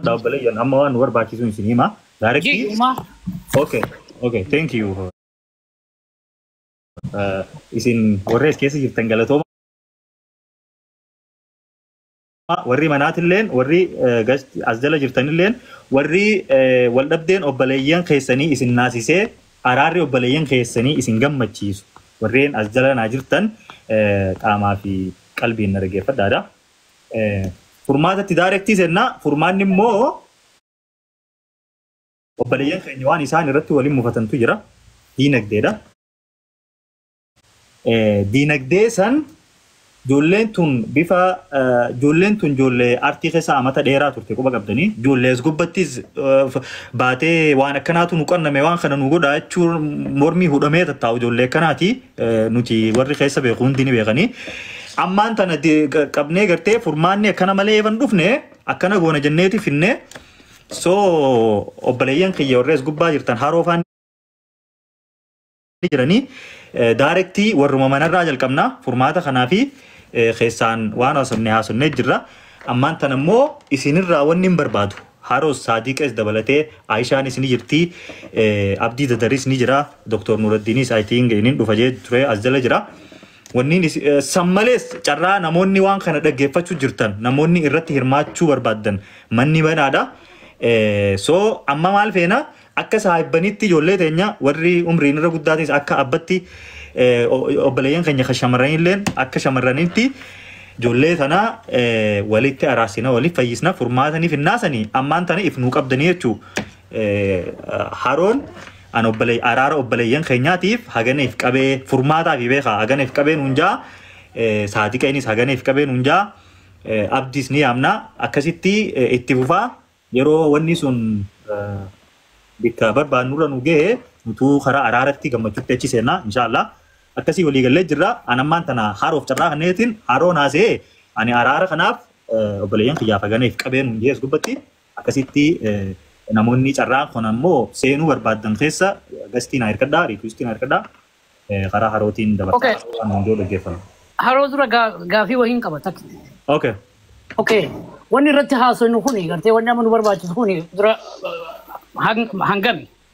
Dhaabbalee amma waan nu barbaachisuun isin hima. Directly. Jiyyumaa. Okay. Okay. Thank you. Uh, isin warri as keessa jirtan galatooma. Warri manaatilleen, warri eh, gas- as jala jirtanilleen, warri eh, wal dhabdeen obboleeyyan keessanii isin naasisee araarri obboleeyyan keessanii isin gammachiisu. Warreen as jala naa jirtan eh, qaamaa fi qalbiin na dhaggeeffadhaadha. Furmaata itti daarektii senna. Furmaanni immoo obboleeyyan keenya waan isaan irratti waliin mufatantu jira. Diinagdeedha. Diinagdee san ijoolleen tun bifa ijoolleen tun ijoollee artii keessa amata dheeraa turte quba qabdanii ijoollee as gubbattis baatee waan akkanaatu nu qanname waan kana nu godha jechuun mormii hudhamee tattaa'u ijoollee akkanaati nuti warri keessa beeku hundi ni beekanii. Ammaan tana de- qa- qabnee gartee furmaanni akkana malee eeban dhufne akkana goona jenneeti finne so obboleeyyan kiyya warrees gubbaa jirtan haroo faan ni jiranii eh, daarektii warruma manarraa jalqabna furmaata kanaa fi eh, keessaan waan haasofne haasofnee jirra ammaan tana immoo isinirraa wanni hin barbaadu haroos saadiqees dabalatee aayishaanis ni jirti eh, abdii dadaris ni jira doktor nuraddiinis i think inin dhufa jee ture as jala jira Wanniin is, eh, san malees carraa namoonni waan kana dhaggeeffachuu jirtan namoonni irratti hirmaachuu barbaaddan manni banaadha. Eh, so amma maal feena akka saahibbanitti ijoollee teenya warri umriin irra guddaatiis akka abbatti eh, o- obboleeyyan keenya kan shamarranilleen akka shamarranitti ijoollee tana eh, walitti araarsina waliif fayyisna furmaatanii finnaasanii ammaan tana if nuu qabdanii jechuu Haroon an obbole araara obboleeyyan keenyaatiif haganeef qabee furmaataa fi beekaa haganeef qabee nuun jaa saadiqa innis haganeef qabee nuun jaa abdiis ni yaamna akkasitti itti fufaa yeroo wanni sun bikka barbaannurra nu gahe nutuu karaa araaratti gammachuutti achi seenna inshaallah akkasii walii gallee jirra an ammaan tana haroof carraa kanneetiin haroon haasee ani araara kanaaf obboleeyyan kiyyaaf haganeef qabee nuun jees gubbatti Akkasitti namoonni carraa kana immoo seenuu barbaaddan keessa gastii naa hirkadhaa, riikwistii naa hirkadhaa. Karaa harootiin dabarsaa Okay. haroo waan hundoo dhaggeeffama. Haroo dura gaa- gaafii wahiin qaba takka. Okay. Okay. Wanni irratti haasofnu kuni gartee wanni amma nu barbaachisu kuni dura uh, hang- hangami.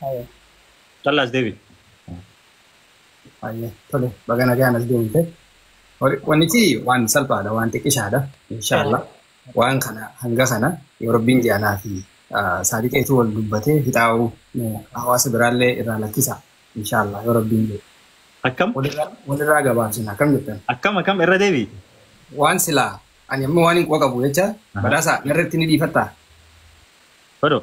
Haye. Talla as deebi. Haye. Tole. Baga nagaan as deemte. Wal- Wannichi waan salphaadha, waan xiqqishaadha. Inshaallah. Waan kana hanga kana yoo rabbiin jaalaa fi ah, saadiqeetu wal dubbatee fixaa'uu eh, hawaasa biraallee irraa lakkisa. Inshaallah yoo rabbiin jedhe. Akkam? Walirraa walirraa gabaabsina akkam jettan? Akkam akkam irra deebi? Waan silaa ani amma waan hin quba qabu jecha badhaasa narratti ni dhiifattaa? Fadoo.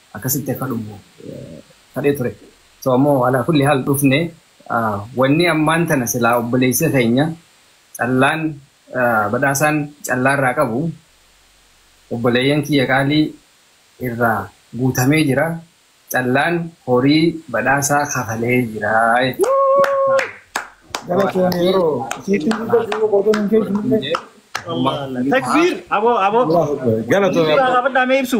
akkasitti akka dhufu kadhee ture so ammoo alaa kulli haal dhufne wanni ammaan tana silaa obboleessi keenya callaan badhaasaan callaa irraa qabu obboleeyyan kiyya qaalii irraa guutamee jira callaan horii badhaasaa kafalee jira Galatoomi yeroo siitii guddaa jiruu qoodoon hin geejjibne. Takbiir! Aboo aboo! Galatoomi. Gaafadhaa mee ibsu.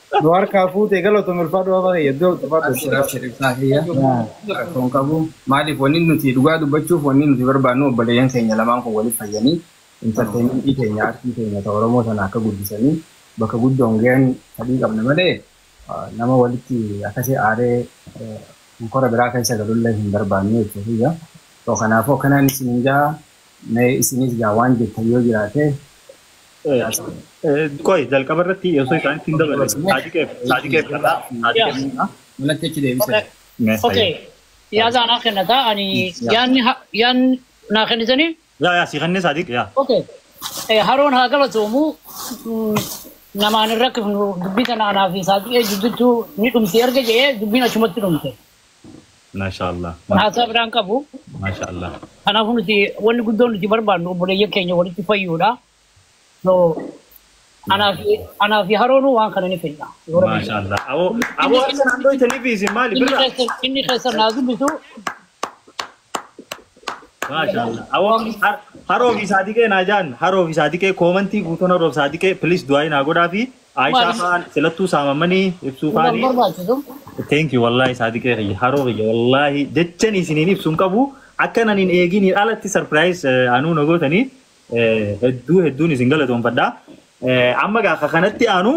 Nu harkaa fuute galatomi ulfaadhu waaqa kiyya iddoo ulfaadhu. Abshir abshir ibsaa kiyya rakkoo hin qabu maaliif wanni nuti dhugaa dubbachuuf wanni nuti barbaannu obboleeyyan keenya lamaan kun waliif fayyanii intarteeymentii teenya aartii teenya ta oromoo tana akka guddisanii bakka guddoon gayan fadhii qabna malee nama walitti akkasi aaree honkora biraa keessa galullee hin barbaannu jechuu kiyya so kanaafuu akkanaan isiniin ja'a Mee isinis gaa waan jettan yoo jiraate Qoy jalqaba irratti osoo isaanitti hin daballe saadiqeef saadiqeef irraa saadiqeef irraa manatti achi deebisee. mee Okay. hayya. Yaada anaa kennataa ani yaadni ha- yaadni naa kennitanii Yaa yaa si kennee saadiq yaa. Okay. Eh, Haroon haa galatoomu Mm, namaan hin rakkifnu dubbii tana anaa fi saaxiqee jidduutti ni dhumti erga jedhee dubbiin achumatti dhumte. Mashallah Haasaa biraan qabu. Mashallah. Kanaafuu nuti wanni guddoon nuti barbaannu obboleeyyan keenya walitti fayyuudha. So anaa fi anaa fi haroonuu waan kana ni fedha. Yoo rabbi jedhe. Mashallah. Abo abo harka naan dhoytaniif isin maali Inni birra? keessa inni keessa naa dubbisu Maashaallah. Awoo har- haroo fi saadiqee naa jaan haroo fi saadiqee koomantii guutuun haroo fi saadiqee please du'aayi naa godhaa fi Aishaa Maali? faan silattuu saamamanii ibsuu Kun faanii. barbaachisu. Thank you wallahi saadiqee kiyya haroo kiyya wallahi jechan isiniin ibsu hin qabu akkan anin eeginiin alatti surprise eh, anuu na gootanii eh, hedduu hedduun isin galatoomfadha. Eh, Amma gaa ka kanatti aanu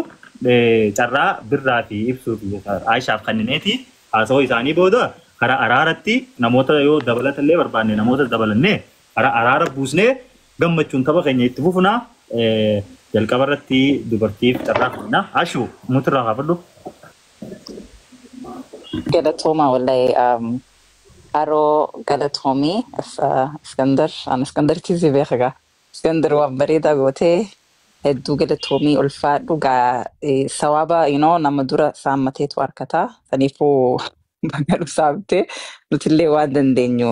eh, carraa birraa fi ibsuu fi Aishaaf kannineeti. Haasawa isaanii booda karaa araaratti namoota yoo dabalata illee barbaanne namoota dabalannee karaa araara buusnee gammachuun tapha keenya itti fufna. Jalqaba irratti dubartiif carraa kenna. Ashu muti irraa kaafadhu. Galatoomaa wallahi um, Aroo galatoomii Is- uh, Iskandar an Iskandaritti si beeka gaa Iskandir waan bareedaa gootee hedduu galatoomii ulfaadhu gaa eh, sawaaba you know, nama dura saammateetu harkataa saniifuu baga dhusaamte nutillee waan dandeenyu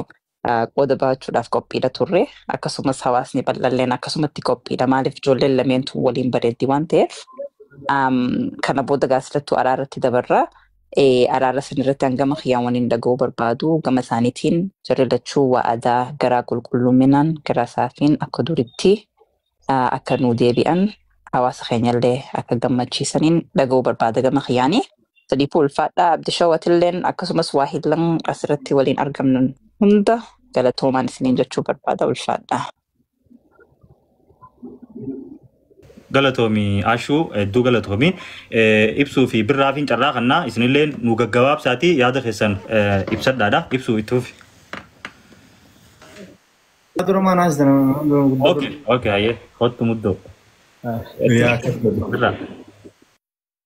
ah, qooda ba'achuudhaaf qophiidha turre akkasumas hawaasni bal'alleen akkasumatti qophiidha maaliif ijoolleen lameentu waliin bareeddi waan ta'eef Am, kana booda gaasilattuu araarratti dabarra Araara san irratti hangama kiyyaan waniin dhaga'uu barbaadu gama isaaniitiin jarri lachuu wa'adaa garaa qulqulluminaan garaa saafiin akka duritti akka nuu deebi'an hawaasa keenyallee akka gammachiisaniin dhaga'uu barbaada gama kiyyaani. Sadiifuu ulfaadhaa abdishawatilleen akkasumas waa hillan asirratti waliin argamnan hunda galatoomaan isiniin jechuu barbaada ulfaadhaa. galatoomi ashuu hedduu galatoomi Eh, ibsuu fi birraafiin carraa kannaa isinillee nu gaggabaabsaatii yaada keessan eh, ibsadhaadha ibsuu itti fufi Dura maan haastan dura guddaa okay okay hayyee kottu muddoo Eh, Yaa, birraa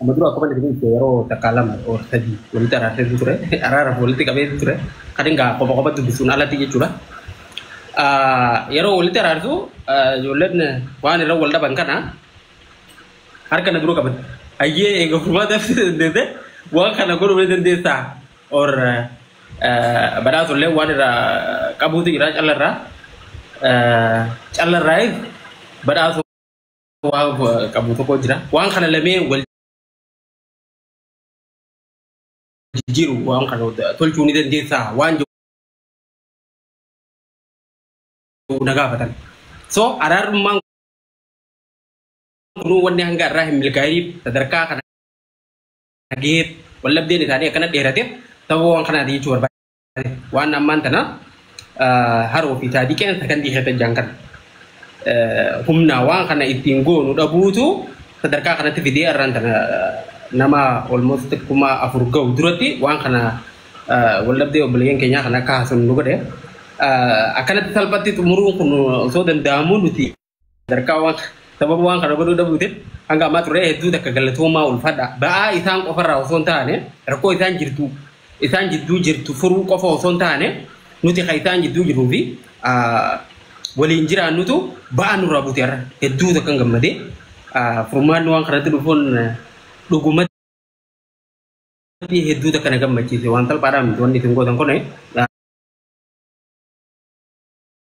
Amma dura akkuma inni ibse yeroo takkaa lama or sadii walitti araarseetu ture. Araaraaf walitti qabeetu ture. Kan egaa qofa qofa dubbisuun alatti jechuudha. Yeroo walitti araarsu ijoolleen waan irra wal dhaban kana harka na dura qaban. Ayyee eega furmaata ibsuu dandeesse waan kana godhuu ni dandeessaa or badhaasa illee waan irraa qabuutu jira callarraa. Callarraayis badhaasa. waa qabu tokko jira. Waan kana lamee wal jijjiiru waan kana tolchuu ni dandeessaa waan jedhu na gaafatan. So araarummaan kun wanni hanga irraa hin milkaa'iniif sadarkaa kana gaheef wallabdeen isaanii akkana dheerateef sababa waan kanaati jechuu barbaada. Waan ammaan tana haroo fi taadiqeen sakandii keessa jiran kana humna waan kana ittiin goonu dhabuutu sadarkaa kanatti fidee irraan tana nama almost kuma afur ga'u duratti waan kana waldhabdee obboleeyyan keenyaa kana akka haasofnu nu godhe. Akkanatti salphatti xumuruun kun osoo danda'amuu nuti Sadarkaa waan sababa waan kana godhuu dhabuutiin hanga ammaa turree hedduu takka galatoomaa ulfaadha. Ba'aa isaan qofarraa osoo hin taane rakkoo isaan jirtu isaan jidduu jirtu furuu qofa osoo hin taane nuti kan isaan jidduu jiruu fi waliin jiraannutu ba'aa nurraa buute har'a hedduu takkan gammadee furmaanni waan kanatti dhufuun dhugumatti hedduu takka na gammachiise waan salphaadhaa miti wanni isin gootan kun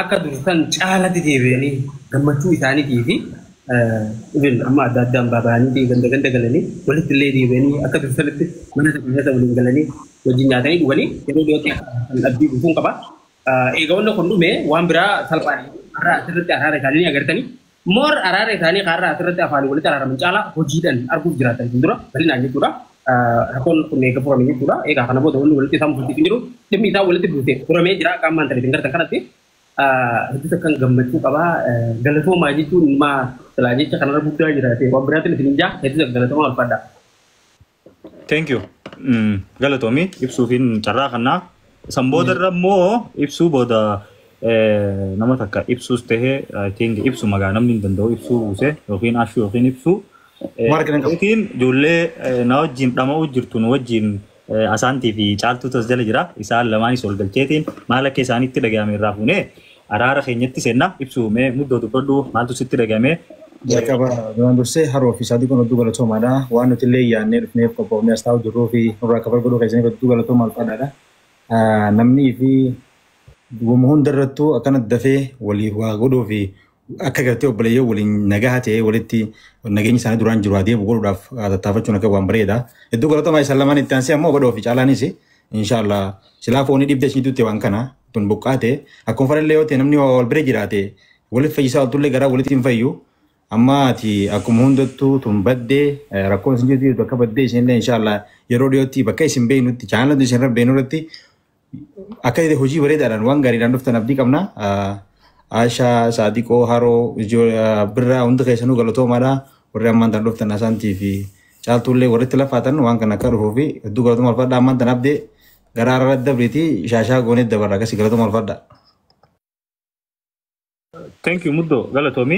akka dursan caalatti deebi'anii gammachuu isaaniitii fi ibin amma adda addaan baaba'anii ganda ganda galanii walitti illee deebi'anii akka dursanitti mana tokko keessa waliin galanii wajjin nyaatanii dhuganii yeroo dhiyootti akka kan abdii guutuun qaba. Eega wanna kun dhume waan biraa salphaadha. Har'a asirratti araara isaanii ni agartanii More araara isaanii kan har'a asirratti afaanii walitti araaraman caalaa hojiidhaan arguuf jiraatan fuuldura bal'inaan jechuudha. Rakkoon kun eega furame jechuudha. Egaa kana booda wanni walitti isaan buusiisu jiru dhimmi isaa walitti buuse furamee jira akka ammaan tana isin gartan kanatti. Hedduu takkan gammachuu qaba. Galatoomaa jechuun maa silaa jecha kanarra guddaa jiraate waan biraatiin isin hin jaa hedduu takka galatoomaa ulfaadhaa. Thank you. Mm, Galatoomi ibsuufiin carraa kannaa. San booda irra immoo ibsuu booda eh, nama takka ibsuus ta'e I think ibsu magaa namni hin danda'u ibsuu buuse yookiin ashuu yookiin ibsuu. Eh, Warra galan qabu. Yookiin ijoollee eh, na wajjin dhama'uu jirtu nu wajjin eh, asaantii fi caaltuutu as jala jira. Isaan lamaanis wal galcheetiin maal akka isaanitti dhaga'ame irraa fuunee Araara keenyatti seenna. Ibsuu mee muddoo dubbadhu maaltu sitti dhagame? Jalqaba duraan dursee Haroo fi Saadiqoon hedduu galatoomaadha. Waan nuti illee yaadnee dhufneef qophoofnee as taa'uu jirruu fi nurraa kafal godhuu keessaniif hedduu galatoomaa ulfaadhaadha. Namnii fi wama hunda irrattuu akkana dafee waliif waa godhuu fi akka gartee obboleeyyoo waliin nagaha ta'ee walitti nageenyi isaanii duraan jiru adeemu godhuudhaaf tattaafachuun akka waan bareeda. Hedduu galatoomaa isan lamaan itti aansee ammoo badhoo fi caalaanis inshaallah silaa foonii dhibdee isinitti waan kana tun buqqaate akkuma farallee yoo ta'e namni waa wal bira jiraate walitti fayyisaa oltullee garaa walitti hin fayyu amma ati akkuma hundattuu tun baddee eh, rakkoon isin jirtu jirtu akka baddee isinillee inshaallah yeroo dhiyootti bakka isin beeknutti chaanalatu isin irra beeknu irratti akka ta'e hojii bareedaadhaan waan gaariidhaan dhuftan abdii qabna. Ah, Aashaa, Saadiqoo, Haroo, Ijoo, ah, Birraa hundi keessanuu galatoomaadha. Warri ammaan tan dhuftan Asaantii fi Caaltuullee warri itti lafaatan waan kana akka dhufuu fi hedduu galatoomaa ulfaadha ammaan tan abdee Garaa irra dabriti shaashaa goonee dabarra akkasi galatuma ulfadha. Thank you muddo galatoomi.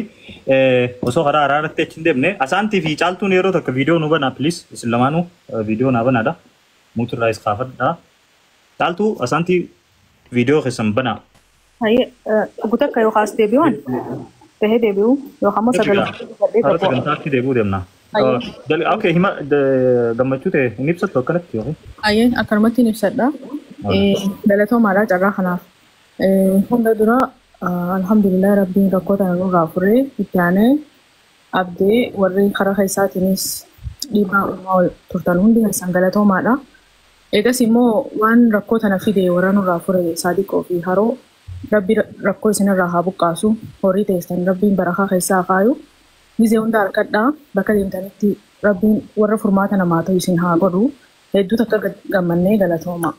Eh, Osoo karaa haaraa irratti achi hin deemne asaantii fi caaltuun yeroo takka viidiyoo nu banaa please isin lamaanuu eh, viidiyoo naa banaadha. Muutu irraa is kaafadha. Caaltuu asaantii viidiyoo keessan banaa. Hayyee dhuggu takka yookaan as deebi'uun tahee deebi'uu yookaan immoo sagalee gadhee Karaa tokko. sagantaatti deebi'uu deemna. Hayyee. Jal- Okay, hima d- gammachuu ta'e hin ibsattu akkanatti yookiin? Hayyee akkanumatti hin ibsadha. Eh, Galatoomaadha carraa kanaaf. Eh, Hunda dura ah, alhamdulillah rabbiin rakkoo tana nurraa furee itti aanee abdee warri karaa keessaatiinis dhiibbaa uumaa turtan hundi keessan galatoomaadha. Eegasii immoo waan rakkoo tana fide worra nurraa fure Saadiqoo fi Haroo Rabbi rakkoo isin irraa haa buqqaasu, horii teessan Rabbiin barakaa keessaa haa kaayu, gizee hunda harkadhaa bakka deemtanitti Rabbiin worra furmaata namaa tayu isin haa godhu, hedduu takka gammanne galatooma.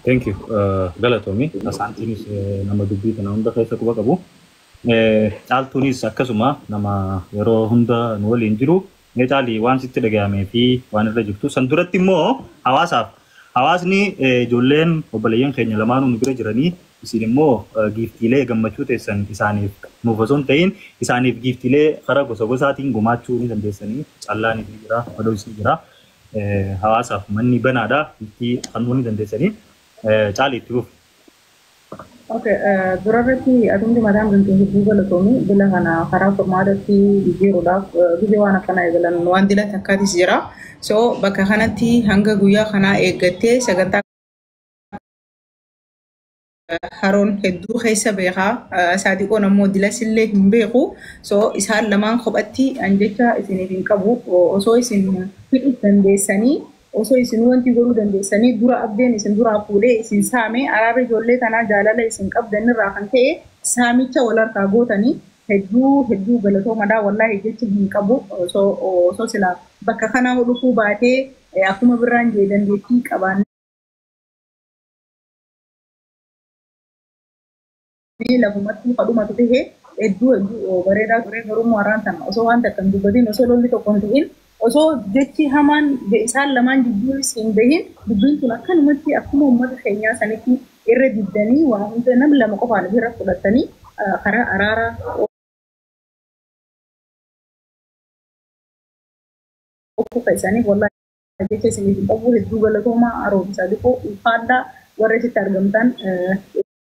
Thank you galatoomi Asaantiinis nama dubbii tana hunda keessa quba qabu Caaltuunis akkasuma nama yeroo hunda nu waliin jiru Mee taali waan sitti dhagayamee fi waan irra jirtu san duratti immoo hawaasaaf hawaasni ijoolleen obboleeyyan keenya lamaanuu nu bira jiranii isin immoo giiftiilee gammachuu teessan isaaniif nuuf osoo hin ta'iin isaaniif giiftiilee kara gosa gosaatiin gumaachuu ni dandeessanii callaaniif ni jira madois ni jira hawaasaaf manni banaadha giiftii kannuu ni dandeessanii caali itti fufi. Okay, dura irratti atumti mataan bultee hedduu galatoomi bila kana karaa furmaatatti jijjiiruudhaaf gizee waan akkanaa eegalan waan dila takkaatis jira. So bakka kanatti hanga guyyaa kanaa eeggattee sagantaa haroon hedduu keessa beekaa saadiqoon ammoo dilasillee hin beeku so isaan lamaan kophatti an jecha isiniif hin qabu osoo isin hidhu dandeessanii Osoo isinuu wanti godhuu dandeessanii dura Abdeen isin duraa fuudhee isin saame araarri ijoollee tanaa jaalala isin qabdan irraa kan ka'e saamicha wal harkaa gootanii hedduu hedduu galatoomadha wallaahi jecha hin qabu osoo osoo silaa bakka kanaa hoo dhufuu baatee akkuma birraan jee dandeettii qabaannee Mee lafumattuu ka dhumatu tahe hedduu hedduu bareedaa ture garuu immoo har'aan tana osoo waan takka hin dubbatin osoo lolli tokko hin ta'in osoo jechi hamaan isaan lamaan jidduunis hin bahin dubbiin tun akkanumatti akkuma uummata keenyaa sanitti irra diddanii waa hunda nam lama qofaan ofirra fudhattanii karaa araaraa oofuu keessaniif wallaahi jecha isiniif hin qabu hedduu galatoomaa haaromsaa dikoo ulfaadhaa warra achitti argamtan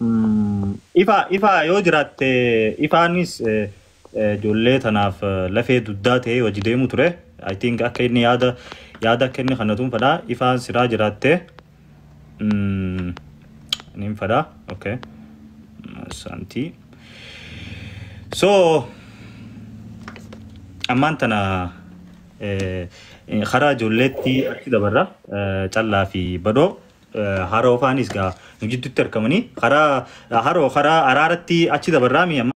Umm ifa ifa yoo jiraatte ifaanis ijoollee tanaaf lafee dugdaa ta'ee wajji deemu ture I think akka inni yaada yaada akka inni kannatuun fedha ifaan siraa jiraatte umm nin fedha ok saantii so ammaan tana eh, karaa ijoolleetti achi dabarra eh, callaa fi badhoo Haroo faanis gaa nu jiddutti arkamanii karaa haroo karaa araaratti achi dabarraa mi amma.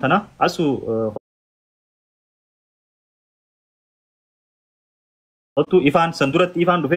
Tana asu kottu ifaan san duratti ifaan dhufe.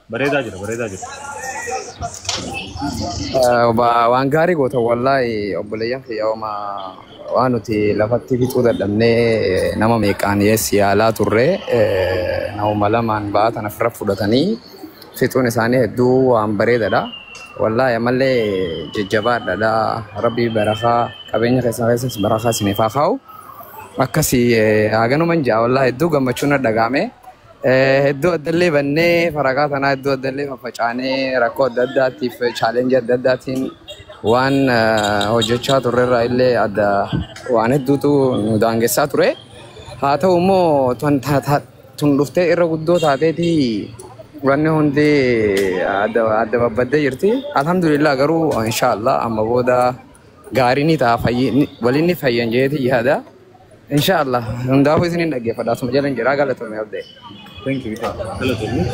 Bareedaa jira, bareedaa jira. Eh, ba- Waan gaarii goota wallaahi obboleeyyan kiyya hooma waan nuti lafatti fixuu dadhabnee eh, nama meeqaan dhiyeessi yaalaa turre eh, namuma lamaan ba'aa tana firra fudhatanii fixuun isaanii hedduu waan bareedadha. Wallaahi ammallee jajjabaadhaadha. Rabbii barakaa qabeenya keessan keessas barakaa isiniif haa kaa'u. Akkasii eh, haganuman ja'a wallaahi hedduu gammachuun na dhagaame. Hedduu addallee bannee faragaa tanaa hedduu addallee faffacaanee rakkoo adda addaatiif chaalenjii adda addaatiin waan hojjechaa turrerraa illee adda waan hedduutu nu daangessaa ture. Haa ta'u immoo tun dhuftee irra guddoo taateeti wanni hundi adda babbaddee jirti. Alhamdulillah garuu inshaallah amma booda gaarii ni ta'a waliin ni fayyan jeeti yaada. Insha Allah. Hundaafuu isiniin dhaggeeffadha. Asuma jala hin jiraa galatoomii abdee. Thank you. Galatoomii.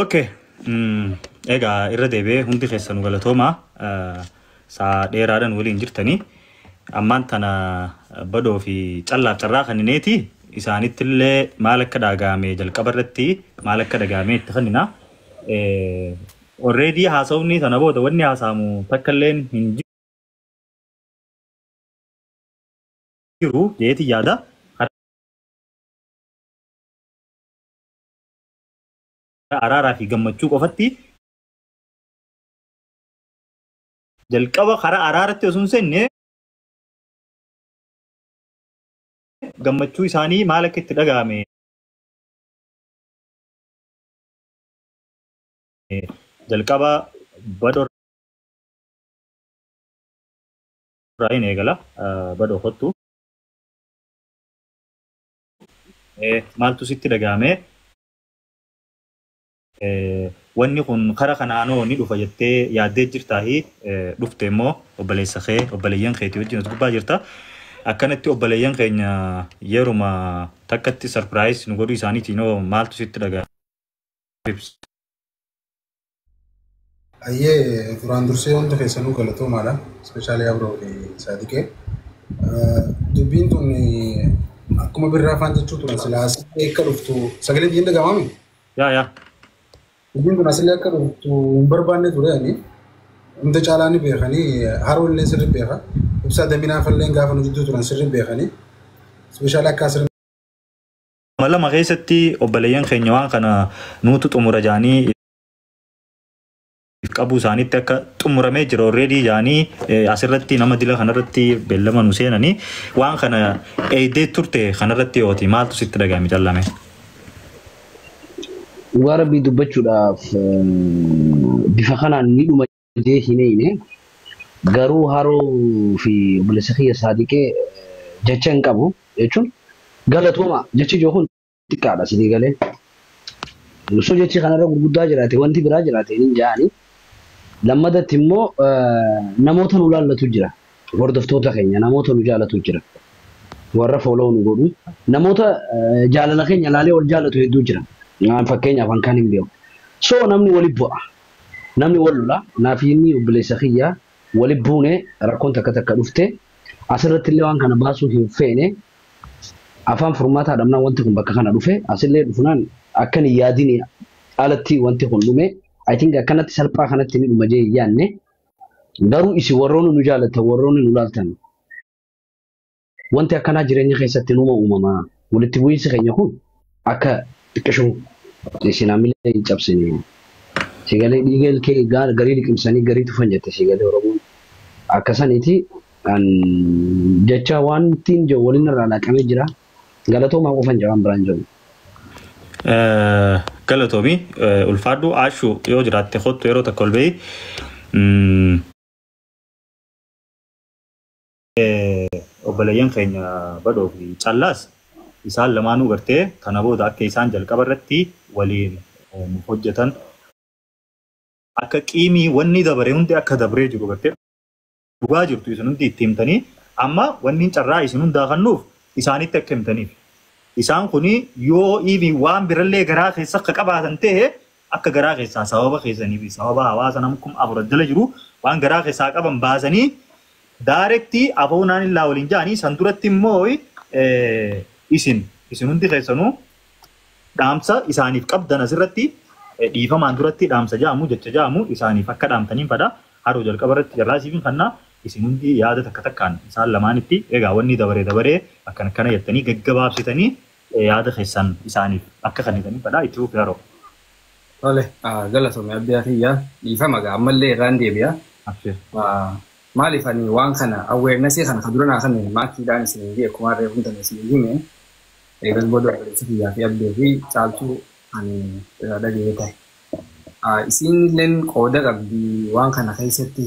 Okay. Mm, Egaa irra deebi'ee hundi keessanu galatoomaa eh, saa dheeraadhaan waliin jirtanii ammaan tana badoo fi callaaf carraa kannineeti isaanitti illee maal akka dhagaame jalqaba irratti maal akka dhagaame itti kannina. Orreedii haasawni sana booda wanni haasaamu takka illee hin jiru. jiru jeeti yaada. Araaraa fi gammachuu qofatti jalqaba karaa araaratti osoo hin seenne gammachuu isaanii maal akka itti dhaga'ame jalqaba badho irraa hin eegala badhoo kottu. Maaltu sitti dhaga'ame? Wanni kun kara kanaanoo ni dhufa jettee yaaddee jirtaahi dhufte immoo obboleessa kee obboleeyyan keetii wajjin as gubbaa jirta. Akkanatti obboleeyyan keenya yeruma takkatti sarpiraayis nu godhuu isaaniitiinoo maaltu sitti dhaga'ame? Ayyee duraan dursee hunda keessanuu galatoomaadha. Ispeeshaalii Abroo fi Saadiqee. Dubbiin tun akkuma birraa afaan jechuu turan silaa asitti akka dhuftu sagalee biyya hin dhaga'amami. Yaa yaa. Dubbiin tun asillee akka dhuftu hin barbaanne ture ani. Hunda caalaa ni beekanii haroo illee sirri beeka. Ibsaa daminaa falleen gaafa nu jidduu turan sirri beekanii. Ispeeshaalii akka asirra Kuma lama keessatti obboleeyyan keenya waan kana nuutu xumura jaanii qabuu isaaniitti akka xumuramee jira already jaanii asirratti nama dila kanarratti beellama nu seenanii waan kana eeydee turte kanarratti yooti maaltu sitti dhaga'ame callame. Dhugaa rabbii dubbachuudhaaf bifa kanaan ni dhuma Hojii hin hiine garuu haroo fi obboleessa kiyya saadiqee jecha hin qabu jechuun galatooma jechi jiru kun xiqqaadha sinii galee osoo jechi kanarra gurguddaa jiraate wanti biraa jiraate hin jaani lammadatti immoo namoota nu laallatu jira hordoftoota keenya namoota nu jaalatu jira warra fooloo nu godhu namoota jaalala keenya laalee wal jaalatu hedduu jira fakkeenyaaf hankaan hin beeku so namni wali bu'a Namni wal lola naafiinnii obboleessa kiyya wali buune rakkoon takka takka dhufte asirrattillee waan kana baasuu hin feene afaan furmaataa dhabnaan wanti kun bakka kana dhufe asillee dhufnaan akkan hin yaadini alatti wanti kun dhume I think akkanatti salphaa kanatti ni dhuma jee hin yaanne garuu isin warroonni nu jaalattan warroonni nu laaltan Wanti akkanaa jireenya keessatti numa uumama. Walitti bu'iinsi keenya kun akka xiqqishu isin hamilee hin cabsine. Sigalee dhiiga ilkee garii liqimsanii garii tufan jette sigalee Oromoon. Akka saniiti an jecha wantiin jedhu waliin irraa laaqamee jira. Galatoomaa qofan jedha waan biraan jedhu. Galatoomi ulfaadhu aashu yoo jiraatte kottu yeroo takka ol ba'ii. obboleeyyan keenya badhoo fi callaas isaan lamaanuu gartee kana booda akka isaan jalqaba irratti waliin hojjetan akka qiimii wanni dabare hundi akka dabree jiru gartee dhugaa jirtu isin hundi itti himtanii amma wanni carraa isin hundaa kannuuf isaanitti akka himtaniif isaan kun yoo iivi waan birallee garaa keessa akka qabaatan ta'e Akka garaa keessaa sababa keessanii fi sababa hawaasa nam kum afur as jala jiruu waan garaa keessaa qaban baasanii direct afoo naan illaa waliin ja'anii san duratti immoo isin isin hundi keessanuu dhaamsa isaaniif qabdan asirratti dhiifamaan duratti dhaamsa ja'amu jecha ja'amu isaaniif akka dhaamtaniin fadha haroo jalqaba irratti carraa isiifin kannaa isin hundi yaada takka takkaan isaan lamaanitti egaa wanni dabaree dabaree akkan akkana jettanii gaggabaabsitanii Yaada keessan isaaniif akka kennitaniif fedha. Itti fufi Haroo. Tole galatomi abbiyaa kiyya dhiifama gaa ammallee irraan deebi'a Abshir. maaliif ani waan kana awareness kana ka dura naa kenne maatiidhaan isiniin jee kumaan reefun tana isinii hime eegas booda obboleessa kiyyaa fi abbee fi caaltuu ani irraa dhaga'ee ta'e isiinilleen qooda qabdi waan kana keessatti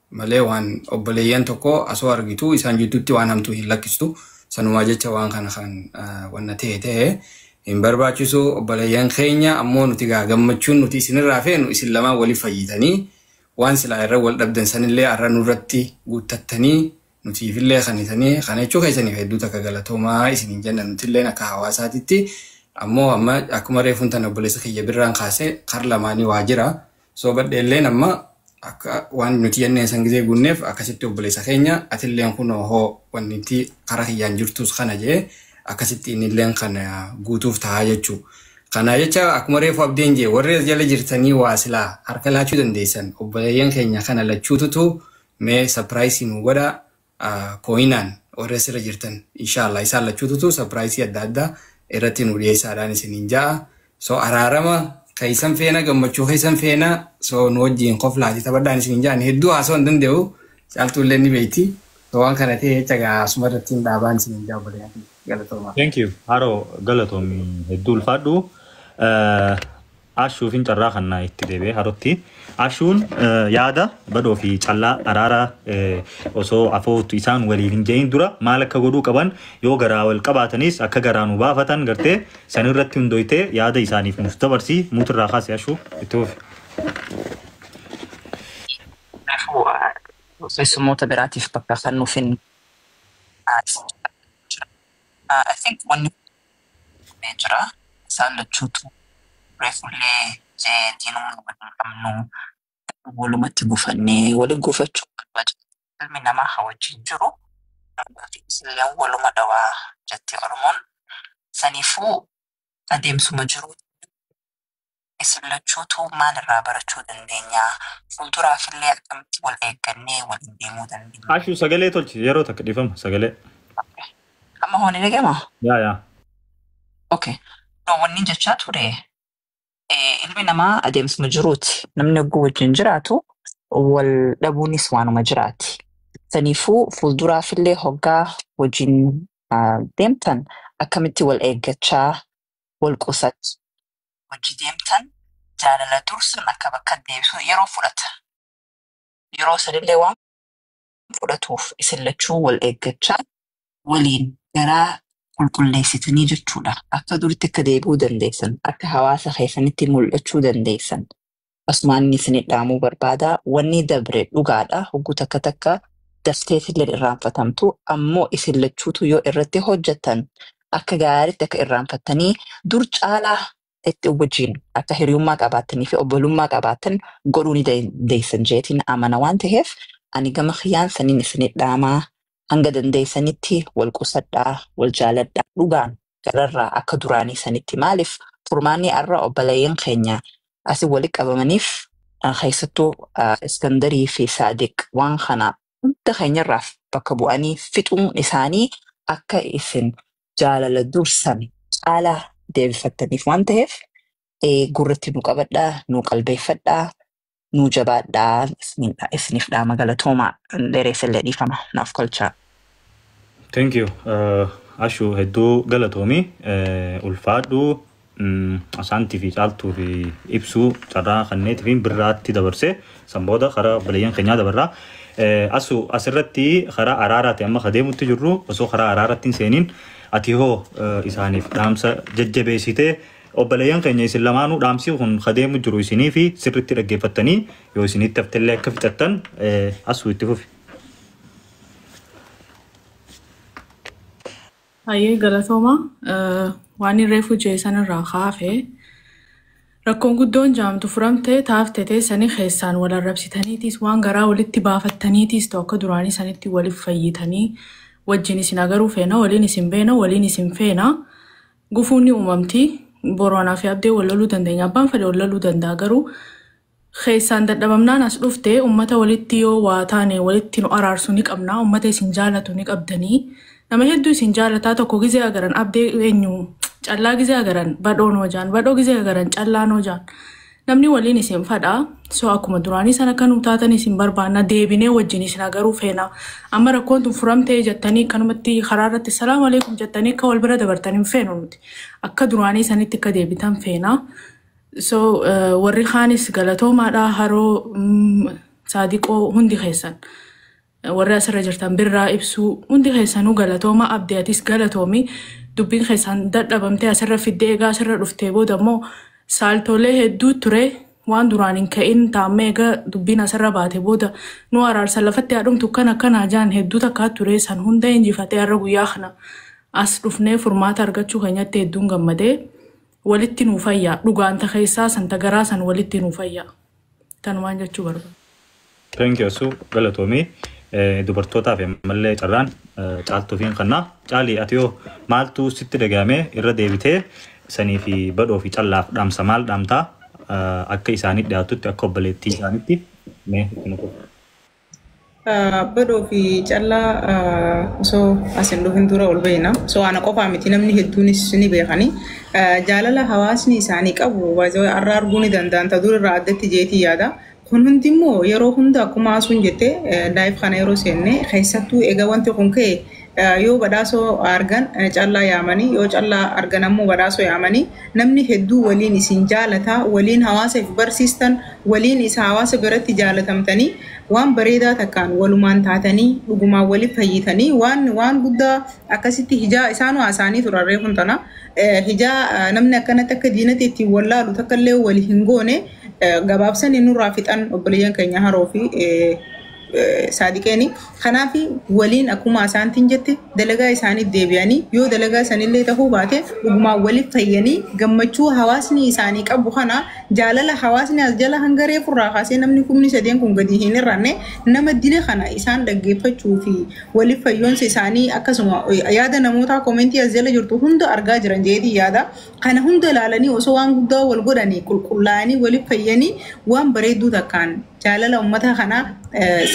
malee waan obboleeyyan tokko asoo argitu isaan jidduutti waan hamtuu hin lakkistu sanumaa jecha waan kana kan wanna ta'e ta'e hin barbaachisu obboleeyyan keenya ammoo nuti gaa gammachuun nuti isinirraa feenu isin lamaan wali fayyitanii waan silaa irra wal dhabdan sanillee arra nurratti guuttattanii nutiifillee kanitanii kana jechuu keessaniif hedduu takka galatoomaa isiniin jenna nutilleen akka hawaasaatitti ammoo amma akkuma reefuun tan obboleessa kiyya birraan kaase kar lamaanii waa jira Soobadhe illeen amma akka waan nuti jenneen san gizee guunneef akkasitti obboleessa keenya atilleen kunoo hoo wannitti karaa kiyyaan jirtus kana jee akkasitti innilleen kan guutuuf tahaa jechuu. Kana jecha akkuma reefu abdeen jee warri as jala jirtanii waa silaa harka laachuu dandeessan obboleeyyan keenya kana lachuututu mee sapiraayisii nu godhaa coinaan warri asirra jirtan inshallah isaan lachuututu surprise adda addaa irratti nu dhiyeessaadhaan isiniin ja'a so araarama keessan feena gammachuu keessan feena so nu wajjiin koflaati taphadhaan isiniin ja'an hedduu haasoo hin danda'u caaltuu illee ni beekti so waan kana ta'e jecha gaa asuma irratti hin dhaabaan isiniin ja'a obboleeyyan kiyya. galatoomaa. Thank you. Haroo galatoomi hedduu ulfaadhu. Eh, Ashuufin carraa kanna itti deebi'ee harotti. Ashuun yaada badhoo fi callaa araara osoo afoottu isaan waliin hin je'in dura maal akka godhuu qaban yoo garaa wal qabaatanis akka garaa nu baafatan gartee san irratti hundoytee yaada isaaniif nuuf dabarsi muut irraa kaasi ashuu itti fufi. Kanaafuu keessummoota biraatiif bakka kannuufin jira. I think wanni jedhee jira. Isaan lachuutuu reefullee jee diinummaa wal hin qabnu. Garuu walumatti gufannee wali gufachuun barbaachisaa miti. Ilmi namaa ha wajjin jiru durbaa fi dhisilleen waluma dhawa jetti Oromoon. Saniifuu adeemsuma jiruutti namni Isin lachuutuu maal irraa barachuu dandeenya? Fuulduraafillee akkamitti wal eeggannee waliin deemuu dandeenya? Ashu sagalee tolchi yeroo takka dhifama sagalee. Okay. Amma hoo ni dhaga'ama? Yaa yaa. Okay. No, wanni jechaa ture eh, ilmi namaa adeemsuma jiruuti. Namni ogguu wajjin jiraatu wal dhabuunis waanuma jiraati. Saniifuu fuulduraafillee hoggaa wajjin ah, deemtan akkamitti wal eeggachaa wal qusat. Hojji deemtan jaalala dursa bakka bakkatti deebisuun yeroo fudhata. Yeroo sanillee waan fudhatuuf isin lachuu wal eeggachaa waliin garaa qulqulleessitanii jechuudha. Akka duritti akka deebi'uu dandeessan, akka hawaasa keessanitti mul'achuu dandeessan Asumaan isinii dhaamuu barbaada wannii dabre dhugaadha hogguu takka takka dafteetilleen irraanfatamtu ammoo isin lachuutuu yoo irratti hojjattan akka gaaritti akka irraanfattanii dur caalaa itti wajjiin akka hiriyummaa qabaattanii fi obbolummaa qabaattan godhuu ni dandeessan jeetiin amana waan taheef ani gama kiyyaan saniin isinii dhaamaa Hanga dandeessanitti wal qusadhaa, wal jaaladhaa, dhugaan gararraa akka duraanii sanitti maaliif furmaanni arra obboleeyyan keenya asi wali qabamaniif keessattuu Iskandarii fi Saadiq waan kana hunda keenyarraaf bakka bu'anii fixuun isaanii akka isin jaalala dur san caalaa deebifattaniif waan taheef gurratti nu qabadhaa, nu qalbeeffadhaa, nuu jabaadhaa isiniin dha- isiniif dhaama galatoomaa dheereessa illee dhiifama naaf kolchaa. Thank you. Uh, Ashu hedduu galatoomi. Uh, ulfaadhu mm, asaantii fi caaltuu fi ibsuu carraa kanneetii fi birraatti dabarse san booda karaa obboleeyyan keenyaa dabarraa. Uh, asu asirratti karaa araaraati amma kadeemutti jirru osoo karaa araaraatti hin seeniin ati hoo uh, isaaniif dhaamsa jajjabeessitee Obboleeyyan keenya isin lamaanuu dhaamsii kun ka deemu jiru isiniifi sirritti dhaggeeffattanii yoo isinitti haftellee akka fixattan Asuu itti fufi. Hayyee galatooma waan reefu jee sanirraa kaafe rakkoon guddoon jaamtu furamtee taafte teessanii keessaan wal arrabsitaniitiis waan garaa walitti baafattaniitiis ta'u akka duraanii sanitti waliif fayyitanii wajjin isin agaruu feena waliin isin beena waliin isin feena Gufuun ni uumamti. Booranaa fi Abdee wal loluu dandeenya. Abbaan fedhe wal loluu danda'a garuu keessaan dadhabamnaan as dhufte ummata walitti yoo waa taane walitti nu araarsu ni qabna. Ummata isin jaalatu ni qabdanii. Nama hedduu isin jaalataa tokko gizee agaran Abdee eenyu callaa gizee agaran badhoon hojaan badhoo gizee agaran callaa nojaan. Namni waliin isin fadha. So akkuma duraanii sana akka nuu taatan isin barbaanna. Deebinee wajjin isin agaruu feena. Amma rakkoon tun furamtee jettanii akkanumatti karaa irratti salaam aleekum jettanii akka wal bira dabartan hin feenu nuti. Akka duraanii sanitti akka deebitan feena. So eh, warri kaanis galatoomaadha haroo mm, saadiqoo hundi keessan. Warri asirra jirtan birraa ibsuu hundi keessanuu galatooma abdi atis galatoomi dubbiin keessaan dadhabamtee asirra fiddee egaa asirra dhuftee booda immoo saaltoolee hedduu ture waan duraan hin ka'in taammee egaa dubbiin asirra baate booda nu araarsa lafatti haadhumtu kan akkanaa jaan hedduu takkaa ture san hunda injifatee har'a guyyaa kana as dhufnee furmaata argachuu keenyatti hedduun gammadee walitti nuu fayyaa dhugaanta keessaa santa garaa san walitti nuu fayyaa. Kanumaan jechuu barbaada. Thank you Asuu galatoomii Eh, dubartootaaf ammallee carraan eh, caaltuufiin kannaa caalii ati yoo maaltu sitti dhaga'amee irra deebitee sanii fi badhoo fi callaaf dhaamsa maal dhaamtaa Eh, akka isaanii dhiyaatutti akka obboleettii isaanitti mee itti nuuf. Badhoo fi callaa osoo as hin dhufin dura ol beekna. So ana qofaa miti namni hedduunis ni beekani. Jaalala hawaasni isaanii qabu baay'ee har'a arguu ni danda'an ta dur irraa addatti jeetii yaada. Kun hundi immoo yeroo hunda akkuma haasuun jette laayif kana yeroo seenne keessattuu egaa wanti kun ka'e yoo badhaasoo argan callaa yaamanii yoo callaa argan ammoo badhaasoo yaamanii namni hedduu waliin isin jaalataa waliin hawaasa if barsiistan waliin isa hawaasa biratti jaalatamtanii waan bareedaa takkaan walumaan taatanii dhugumaan waliif fayyitanii waan waan guddaa akkasitti hijaa isaanuu haasaanii turan reefun tana hijaa namni akkanatti akka diinatti ittiin wallaalu takka illee wal hin goone gabaabsanii nurraa fixan obboleeyyan keenya haroo fi saadiqeeni kanaafi waliin akkuma asaantiin jette dalagaa isaanii deebi'anii yoo dalagaa sanillee tahuu baate dhugumaan waliif fayyanii gammachuu hawaasni isaanii qabu kana jaalala hawaasni as jala hanga reefurraa kaasee namni kumni sadeen kun gadi hin irranne nama dile kana isaan dhaggeeffachuu fi waliif fayyoonsa isaanii akkasuma yaada namootaa koomentii as jala jirtu hunda argaa jiran jeetii yaada kana hunda ilaalanii osoo waan guddaa wal godhanii qulqullaa'anii waliif fayyanii waan bareedduu takkaan jaalala ummata kana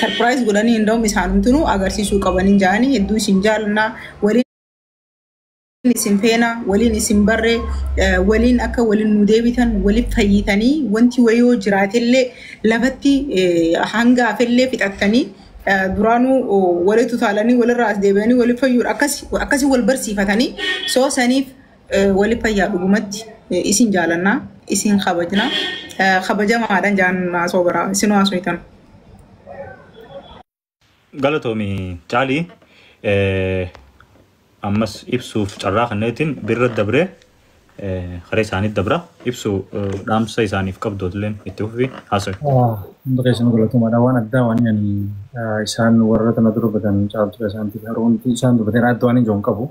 sarpiraayiz godhanii hindoom isaanumtinu agarsiisuu qabanii jaanii hedduu isin jaalannaa waliin isin feena waliin isin barre waliin akka waliin nu deebitan waliif fayyitanii wanti wayoo jiraatellee lafatti hanga hafellee fixattanii duraanuu walitti utaalanii walirraa as deebi'anii waliif fayyuudha akkasi wal barsiifatanii soo saniif Eh, Wali fayyaa dhugumatti eh, isin jaalanna isin kabajna Eh, kabajamaadhan jaan maasoo baraa isin waasoytan. Galatoomi caalii eh, ammas ibsuuf carraa kanneetiin birra dabree eh, haree isaanii dabra ibsu eh, dhaamsa isaaniif qabdootilleen itti fufi haasa'e. Hundi keessanuu galatomaadha. Waan addaa waan ani isaan warra kana durbatan caaltu isaantiif haroomti isaan durbatan adda waan hin jiru hin qabu.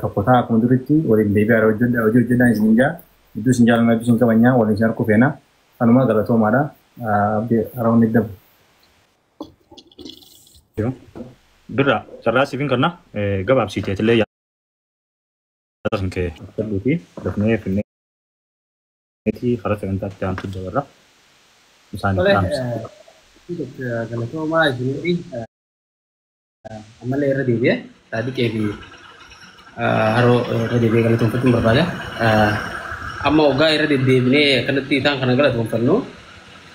tokko ta'a akkuma duritti waliin deebi'aadha hojjedha hojii hojjedhaan isin jaa hedduu isin jaalanna hedduu isin kabajnaa waliin isin harkuu feena kanuma galatoomaadha abdi haroon ni dabu. Birraa carraa siifin kanna gabaabsiiteetillee yaada kan kee fudhuu fi dafnee finneetii karaa sagantaatti aantu dabarra isaaniif dhaamsa. Galatoomaa isin Ammallee irra deebi'ee Saadiqee fi Haroo irra deebi'ee galatoomfachuun barbaada. Amma waggaa irra deddeebinee akkanatti isaan kana galatoomfannu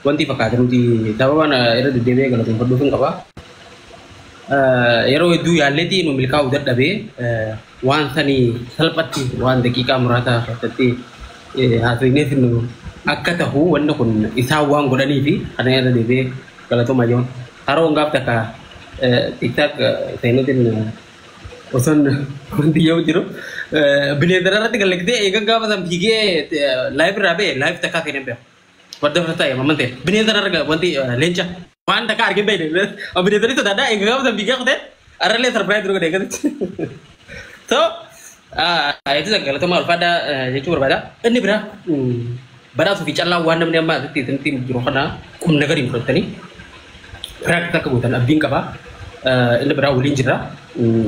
wanti fakkaata nuti sababaan irra deddeebi'ee galatoomfadhuuf hin qaba. Yeroo hedduu yaalleetii nu milkaa'uu dadhabee waan sanii salphatti waan daqiiqaa muraasaa keessatti haasofnee fidnu akka tahu wanni kun isaan waan godhaniifi kana irra deebi'ee galatoomaa jiru. Haroon gaaf takka tiktak seenuutiin osoon wanti yoo jiru bineensa irratti galagdee eegan gaafa san fiigee laayiv irraa ba'e laayiv takkaa seenee beeku. Wadda fasa ta'e mamman ta'e bineensa irra wanti leenca waan takka argee ta'e bineensa ni sodaadha eegan gaafa san fiigee kutee Arralee sarpiraayiz dura godhee gadi. So, itti galatamaa ulfaadhaa jechuu barbaada. Inni biraa badhaasuu fi callaa waan namni ammaa asitti isinitti jiru kana qubna gadi hin fudhattanii piraaktis akka gootan abdiin qaba. Inni biraa waliin jira.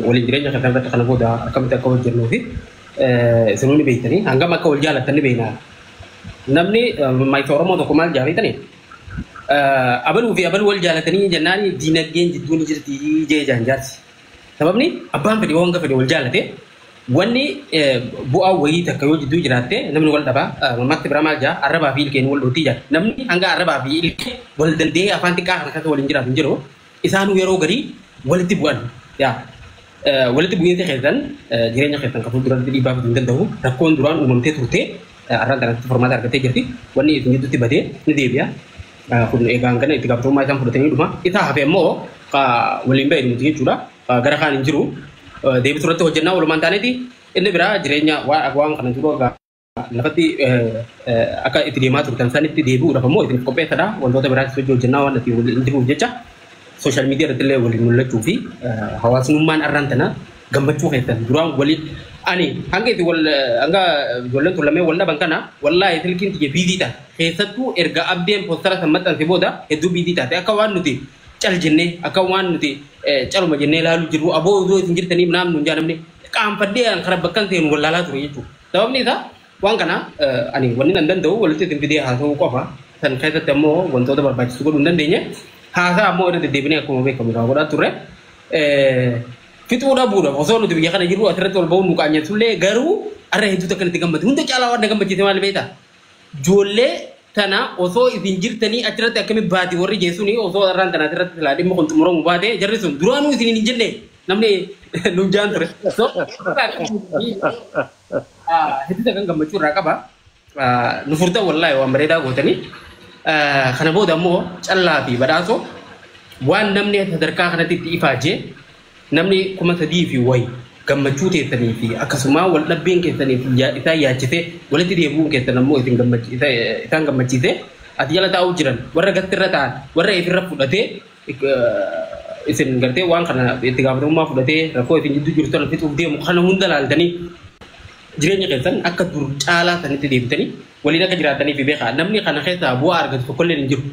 Waliin jireenya kan irratti kana booda akkamitti akka hojjennuu fi isinuu ni beektanii hangam akka wal jaallattan ni beekna. Namni maayisa Oromoo tokko maal jaalatanii? Abaluu fi abaluu wal jaalatanii jennaan diinagdeen jidduu ni jirti jee jaan jaarsi. Sababni abbaan fedhe yoo hanga fedhe wal jaalate wanni bu'aa wayii takka yoo jidduu jiraatte namni wal dhaba mammaakti biraa maal jaa arrabaa fi ilkeen wal dhootii jaa namni hanga arrabaa fi ilkee wal danda'ee afaan xiqqaa kana keessa waliin jiraatu hin jiru. isaanuu yeroo garii walitti bu'an yaa walitti bu'iinsa keessan jireenya keessan kan fuulduratti dhiibbaa fiduu hin danda'u rakkoon duraan uumamtee turte arraan kanatti furmaata argattee jirti wanni isin gidduutti badee ni deebi'a kun eegaan kana itti gaafatamummaa isaan fudhatanii dhuma isaa hafe immoo waliin ba'e dhumti jechuudha gara kaan hin jiru deebisu irratti hojjennaa walumaan taaneeti inni biraa jireenya waan kana jiru lafatti akka itti deemaa turtan sanitti deebi'uudhaaf ammoo isin qopheessadha. Wantoota biraas hojii hojjennaa waan itti waliin jiruuf jecha sooshaal miidiyaa irratti illee waliin mul'achuu fi hawaasummaan arraan tana gammachuu keessan duraan walii ani hanga itti wal hanga ijoolleen tun lameen wal dhaban kana wallaahi silkiin tiyya biizii taate keessattuu erga abdeen poostara san maxxanse booda hedduu biizii taate akka waan nuti cal jennee akka waan nuti caluma jennee ilaaluu jirru aboo osoo isin jirtanii naamnu hin jaanamne qaanfadhee kan bakkan seenu wallaalaa ture jechuudha. Sababni isaa waan kana ani wanni nan danda'u walitti isin fidee haasa'uu qofa. San keessatti ammoo wantoota barbaachisu godhuu hin dandeenye. Haasaa ammoo irra deddeebinee akkuma beekamu irraa godhaa turre. Fixuu dhabuudhaaf osoo nuti biyya kana jirru asirratti wal ba'uun nu qaanyeessullee garuu arra hedduutu akka itti gammade. Hunda caalaa waan na gammachiise maal beektaa? Ijoollee tana osoo isin jirtanii achirratti akkamitti baati warri jeessuun osoo arraan tana asirratti silaa dhimma kun xumuramu baate jarri sun duraanuu isin hin jennee. namni nuuf jaan ture. So, hedduu kan gammachuu irraa qaba. Nu furtan wallaahi waan bareedaa gootanii. Kana booda immoo callaa fi badhaasoo waan namni sadarkaa kanatti itti ifaajee namni kuma sadii fi wayi gammachuu keessanii fi akkasumaa wal dhabbeen keessanii fi yaa- isaan yaachisee walitti deebi'uun keessan ammoo isin gammachi- isa- isaan gammachiisee ati jala taa'uu jiran warra gatti irra ta'an warra ifirra fudhatee isin gartee waan kana itti gaafatamummaa fudhatee rakkoo isin jidduu jirtu kana fixuuf deemu kana hunda laaltanii jireenya keessan akka dur caalaa sanitti deebitanii waliin akka jiraataniif beekaa namni kana keessaa bu'aa argatu tokkollee hin jiru.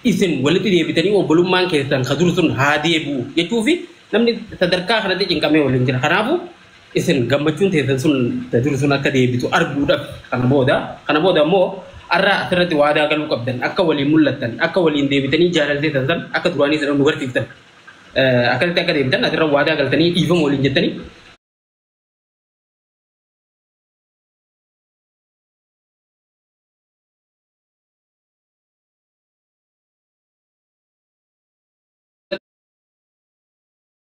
Isin walitti deebitanii obbolummaan keessan ka dur sun haa deebi'u jechuu fi namni sadarkaa kanatti cinqamee waliin jira. Kanaafuu Isin gammachuun teessan sun ta dur sun akka deebitu arguudhaaf kana booda kana booda immoo arraa asirratti waadaa galuu qabdan akka waliin mul'attan akka waliin deebitanii jaalala teessan san akka duraanii sana nu garsiiftan Eh, akkasitti akka deebitan asirra waadaa galtanii dhiifama waliin jettanii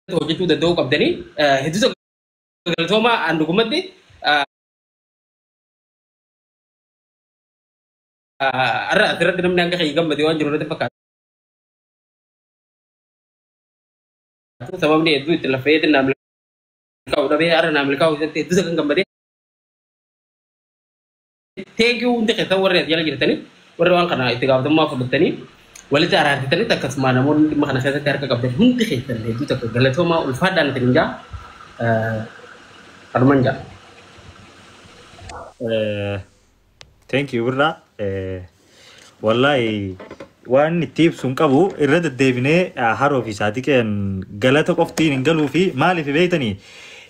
irratti hojjechuu danda'uu qabdanii hedduusa galatoomaa aan dhugumatti har'a asirratti namni hanga kee gammade waan jiru natti fakkaatu. Sababni hedduu itti lafa hedduu naam milkaa'u dhabee har'a naam milkaa'u isatti hedduusa kan gammade. Thank you hundi keessan warri as jala jirtanii warri waan kana itti gaafatamummaa fudhattanii walitti araartitanitti akkasuma namoonni dhimma kana keessatti harka qabdan hundi keessan hedduu tokko galatoomaa ulfaadhaan isin jaa kanuman jaa. Eh, Thank you birraa. Eh, Wallaahi waan itti ibsu hin qabu irra deddeebinee ah, haroo fi saadiqeen galata qoftiin hin galuu fi maaliif beektanii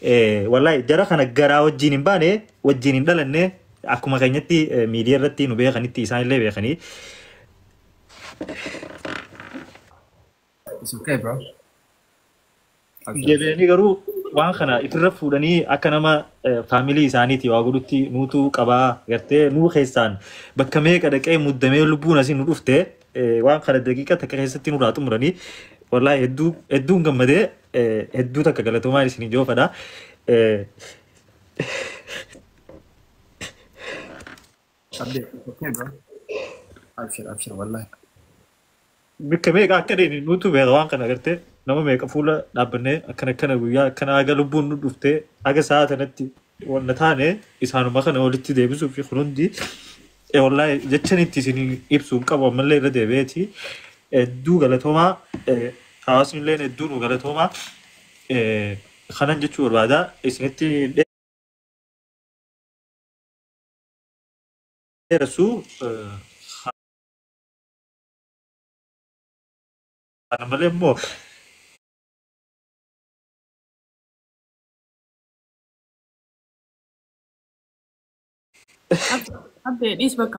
Eh, wallaahi jara kana garaa wajjin hin baane wajjin hin dhalanne akkuma keenyatti eh, miidiyaa irratti nu beekanitti isaan illee beekanii It's okay bro. Abshir. Deebi'anii garuu waan kana itirra fuudhanii akka nama eh, faamilii isaaniiti waa godhutti nuutu qabaa gartee nuu keessaan bakka meeqa dhaqee muddamee lubbuun asii nu dhufte eh, waan kana daqiiqa takka keessatti nurraa xumuranii wallaahi hedduu hedduun gammadee eh, hedduu takka galatoomaa isin ijoofadha. Eh, Abdee, it's okay bro. Abshir, abshir, wallahi. Bikka meeqa akka deemne nuutu beeka waan kana agartee nama meeqa fuula dhaabbannee akkana akkana guyyaa akkana haga lubbuun nu dhuftee haga sa'a tanatti wanna taane isaanuma kana walitti deebisuu fi kun hundi eh, wallahi jechan itti isin ibsu hin qabu ammallee irra deebi'eeti hedduu galatoomaa eh, hawaasni illee hedduu nu galatoomaa eh, kanan jechuu barbaada isinitti Dheeressu kana malee immoo Abdee dhiis bakka.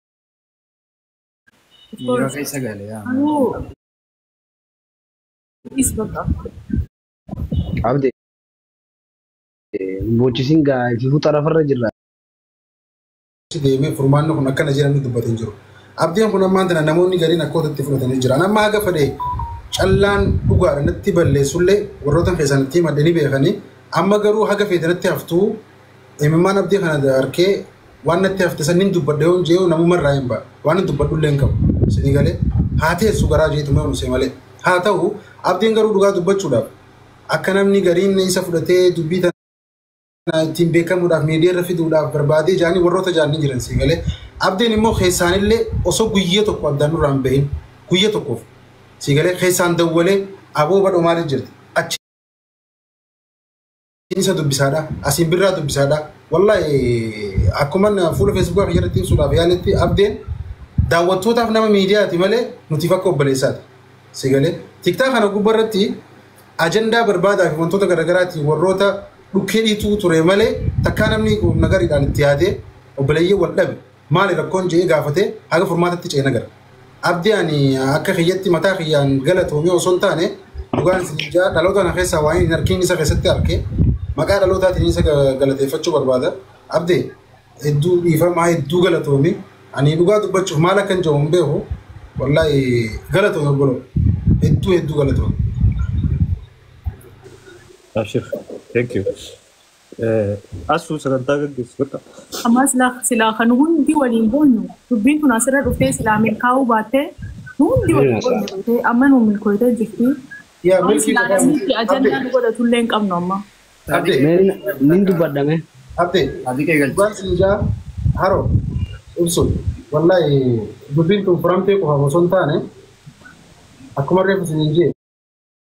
Yeroo keessa gale yaa. Anuu is bakka. Abde boochisin gaa itti fuuta lafarra jirra. deemee furmaanni kun akkana jedhamni dubbate hin jiru. Abdiin kun ammaan tana namoonni gariin akka ototti fudhatanii jiran. Amma haga fedhe callaan dhugaadha natti balleessullee warroota keessan ittiin madde ni beekanii. Amma garuu haga feete natti haftuu imimmaan abdii kana harkee waan natti hafte san nin dubbadha yoon jee'u namuma irraa hin ba'a waan hin dubbadhullee hin qabu sinii galee haa teessu garaa jeetu mee unusee malee haa ta'u abdiin garuu dhugaa dubbachuudhaaf akka namni gariin isa fudhatee dubbii tana ittiin beekamuudhaaf miidiyaa irra fiduudhaaf barbaadee jaanii warroota jaan ni jiran sii galee abdiin immoo keessaanillee osoo guyya tokko addaan nurraa hin bahin guyya tokkoof sii galee keessaan dawwalee aboo badhoo maaliif jirti achi isa dubbisaadha. Asiin birraa dubbisaadha. Wallahi akkuman fuula feesbuukaa kiyya irratti ibsuudhaaf yaaletti abdeen daawwattootaaf nama miidiyaati malee nutiif akka obboleessaati. Si galee tiktaa kana gubbaa irratti ajandaa barbaadaa fi wantoota garaagaraatiin warroota dhukkee dhiituu ture malee takkaa namni nagariidhaan itti yaadee obboleeyyee wal dhabe. maali rakkoon je'ee gaafate haga furmaatatti ceena agarra. Abdi ani akka kiyyatti mataa kiyyaan galatoomii osoo hin taane dhugaan isiniin ja'a dhaloota kana keessaa waaniin hin arkiin isa keessatti arke maqaa dhalootaatiin isa galateeffachuu barbaada. Abde hedduu dhiifamaa hedduu galatoomi ani dhugaa dubbachuuf maal akkan je'u hin beeku wallaahi galatoomi obboloo hedduu hedduu galatoomi. Abshir. Thank you. Asuu sagantaa gaggeessi bakka. Ammaa silaa silaa kan hundi waliin boonyu dubbiin tun asirra dhuftee silaa milkaa'uu baattee nu hundi Ni waliin hasa'a. boonyu beekee amma nu milkooytee jirti. Yaa Waan milkii silaa qofaa namni miti. itti ajannaa Abdee. nu godhatullee hin qabnu amma. Abdee. Mee nin- nin dubbadhame. Abdee. Abdii kee galchi. Dhugaan siin jaa haro ibsun wallahi dubbiin tun furamtee qofaaf osoo hin taane akkuma reefu siin hin jee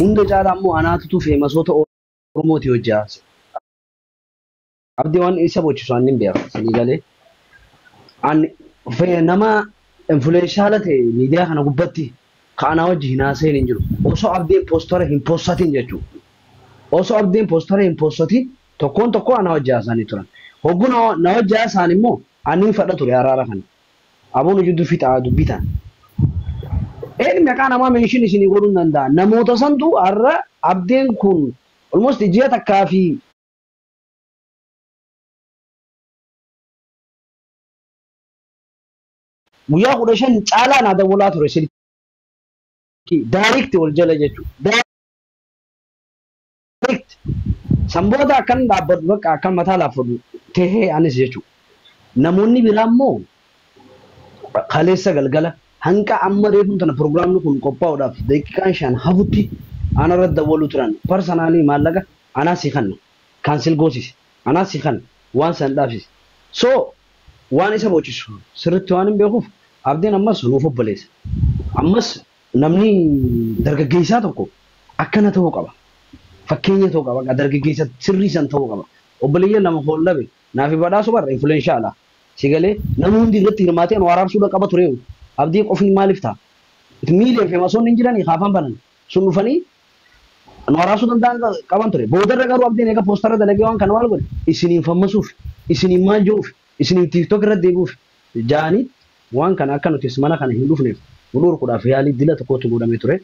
Hunda caalaa immoo anaatutu feemasoota Oromootii hojji haase. Abdi waan isa bochisu anni hin beeku. Sanii galee an fe- nama influenshaala ta'e miidiyaa kana gubbatti ka anaa wajji hin haasa'in hin jiru. Osoo abdiin poostara hin poostatin jechuudha. Osoo abdiin poostara hin poostatin tokkoon tokkoo anaa wajji haasa'anii turan. Hogguu na na wajji haasa'an immoo anniin fadha ture araara kana. Aboo nu jiddu fixaa dubbi tana. Ed meqaa namaa mention isinii godhun danda'a namoota santu har'a abdeen kun almost ji'a takkaa fi. guyyaa 15 caalaa naa dawwalaa ture silkii direct wal jala jechuu. Likt. San booda akkan dhaabbadhu bakka akkan mataa laaffadhu tahe anis jechuudha. Namoonni biraa immoo kaleessa galgala hanga amma reefuu tana pirogiraamni kun qophaa'uudhaaf daqiiqaan shan hafutti ana irratti dawwaluu turan. Parsanaalii maallaqa anaa si kanna, kaansel goosisi, anaa si kanna, waan san dhaabsisi. So waan isa boochisu sirriitti waanin beekuuf Abdiin ammas nuuf obboleessa. Ammas Namni dargaggeessaa tokko akkana ta'uu qaba. Fakkeenya ta'uu qaba. Dargaggeessa sirrii san ta'uu qaba. Obboleeyyan lama foon dhabe naafi badhaasu bar influenshaala. Si galee? Namni hundi irratti hirmaatee Anwaar Arsuudha qaba tureewu. Abdii qofiin maaliif ta'a? Miiliyoon feemasoonni hin jiranii ka afaan banan sun dhufanii Anwaar Arsuu danda'an qaban ture. Boodarra garuu Abdiin eega poostarra dalagee waan kana maal godhe? Isiniin fammasuuf, isiniin maal je'uuf, isiniin TikTok irratti deebi'uuf. ja'aniitti waan kana akka nutis mana kana hin dhufneef nu dhorkudhaaf yaalii dila tokkootu godhamee ture.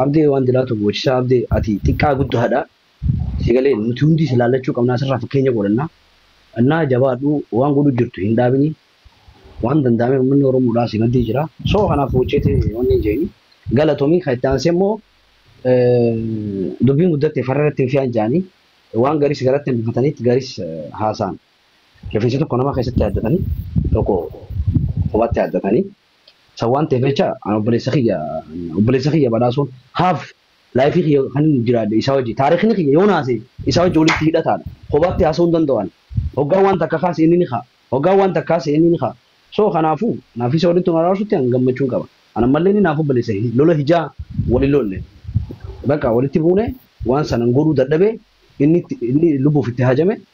Abdee waan dilaa tokko gochisaa Abdee ati xiqqaa guddaadha si galee nuti hundii si laallachuu qabnaa sirraa fakkeenya godhannaa annaa jabaadhu waan godhuu jirtu hin dhaabini waan danda'ameen ummanni oromoodhaa si maddii jira so kanaaf gocheeti wanni jeeni galatomii kan itti aansee immoo dubbiin guddatte farra irratti hin fi'an ja'anii waan garis garatti hambifataniitti garis haasaan. Rifeensi tokko nama keessatti yaaddatanii tokko kophaatti yaaddatanii san waan ta'eef jecha an obboleessa kiyya obboleessa kiyya badhaasuun haaf laayifii kiyya kan inni jiraadhe isaa wajji taariikni kiyya yoo naase isaa wajji walitti hidhataadha kophaatti haasa'uu hin danda'u ani hoggaa waan takka kaase inni ni ka'a hoggaa waan takka kaase inni ni ka'a soo kanaafuu naaf isa walitti nu araarsutti an gammachuun qaba an ammallee inni naaf obboleessa lola hijaa wali lolle bakka walitti buune waan sanan godhuu dadhabee inni itti- inni lubbuuf itti hajame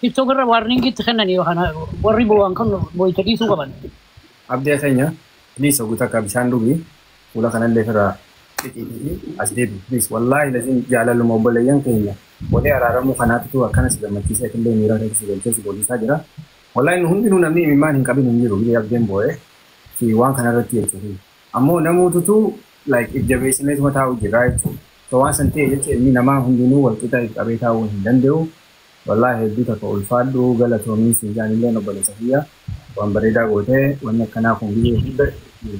TikTok irra warning itti kennani kana warri bowaan kan boyta dhiisuu qaban. Abdee keenya please oguu takka bishaan dhugi fuula kanallee irraa xixiitii as deebi please wallaahi laziim jaalaluma obboleeyyan keenya walee araaramuu kanaatitu akkana si gammachiisee atillee miira keessa si galchee si boodisaa jira wallaahi nu hundinuu namni imimmaan hin qabin hin jiru biyya abdeen boo'ee fi waan kanarratti jechuun ammoo namuututu like if jabeessineetuma taa'u jirraa jechuun so waan san ta'e jecha ilmi namaa hundinuu wal qixa if qabee taa'uu hin danda'u Wallahi hedduu takka ulfaadhu galatoomii siif jaa anilleen obboleessa kiyya waan bareedaa goote wanni akkanaa kun gizee hunda itti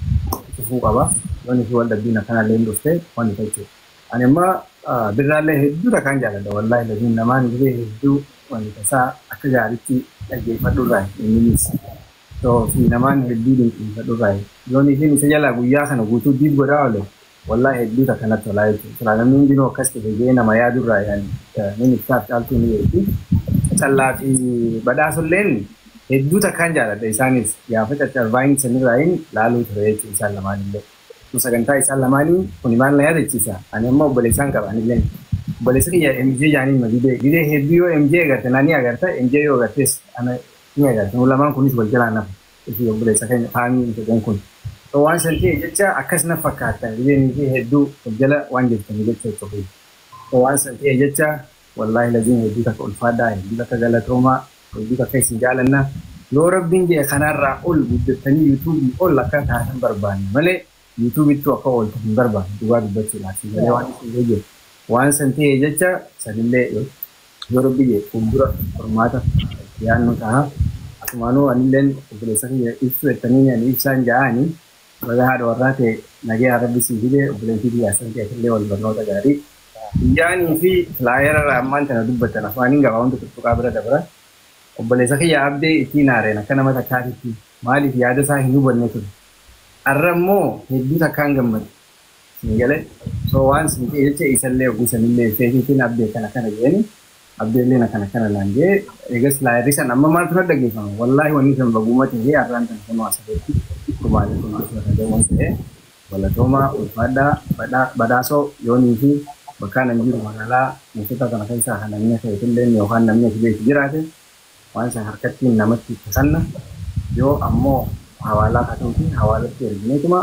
fufuu qaba yooni fi wal dhabbiin akkanaalleen dhufte wanni tachu ani amma birraallee hedduu takkaan jaaladha wallahi laziim namaan gizee hedduu wanni tasaa akka gaaritti dhaggeeffadhu irraayi inninis so fi namaan hedduu dinqiifadhu irraayi yooni fi isa jalaa guyyaa kana guutuu diib godhaa ole Wallahi hedduu takka natti tolaa jechuudha silaa namni hundinuu akkas tahe jee nama yaadu irraa yaani nin ibsaaf caaltuu ni beekti callaa fi badhaasulleen hedduu takkaan jaaladha isaanis gaafa caccar vine sanirraayin laaluu ture jechuu isaan lamaanillee akkuma sagantaa isaan lamaanii kuni maal na yaadachiisa ani amma obboleessaan qaba anilleen obboleessa kiyya MJ jaaniin ma didee didee hedduu yoo MJ agarte na ni agarta MJ yoo agartees ana ni agarta nu lamaan kunis wal jalaa nafa Ufii obboleessa keenya kaamiin jedheen kun so waan san ta'e jecha akkas na fakkaata even isii hedduu of jala waan jirtanii jecha itti ofii so waan san ta'e jecha wallaahi laziim hedduu takka ulfaadhaa hedduu takka galatoomaa hedduu takka isin jaalanna yoo rabbiin jedhe kanaarraa ol guddattanii youtube ol akka taatan barbaanna malee YouTube ttu akka ooltu hin barbaadu dhugaa dubbachuudhaaf sii galee waan isin gayye waan san ta'e jecha sanillee yoo rabbi jedhe fuuldura furmaata itti yaannu taha asumaanuu anilleen obboleessa kiyya ibsuu jettaniin ani ibsaan ja'aani baga haadha warraa tee nagayaan rabbi sii fide obboleettii tiyya assanti atillee wal barnoota gaarii Biyyaanii fi flyera irraa ammaan tana dubbattan afaaniin gabaabamtu tuttuqaa bira dabra obboleessa kiyya Abdee ittii naareen akka nama takkaatitti Maaliif yaada isaa hin hubanne ture. Arra immoo hedduu takkaan gammade. Sii galee? So waan sii qeelche isallee hogguu sanillee isteetiitiin Abdii akkana akkana je'eeni. Abdeelleen akkana akkana naan je'e. Eegas laa irri san amma maaltu na dhageeffama? Wallaahi wanni san baguuma tahee arraan tana kunoo asirratti kumaaleeffamu jechuun irra gahuun sehe. Galatoomaa, ulfaadhaa, badhaa, badhaasoo, yoonii fi bakkaan an jiru magaalaa moottotaa tana keessaa ka namni akka itilleen yookaan namni ati beektu jiraate, Waan san harkattiin namatti kasanna, yoo ammoo hawaalaa katuutii hawaalatti ergineetuma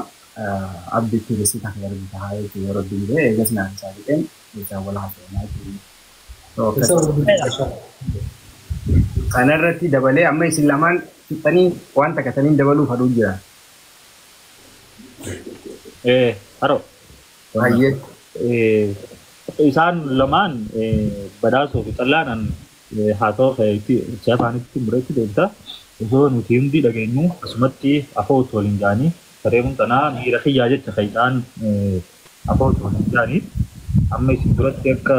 abdi itti risiita kee argu tahaa jechuu yoo Rabbiin je'e, eegas naaf isaa fixeen jechaan wal haasofnaa jechuu yoo akkas Kana irratti dabalee amma isin lamaan fixxanii waan takka taniin dabaluu fadhuu jira. Ee haroo. Hayyee. Isaan lamaan badhaasoo fi xallaanaan Haata'u ka'eeti Ertiraa faanitti muraitti deebita. Osoo nuuti hundii dhageenyuu asumatti afo'otu waliin ja'anii sareemun tanaa miira kiyyaa jecha ka isaan afo'otu waliin ja'anii amma isin duratti akka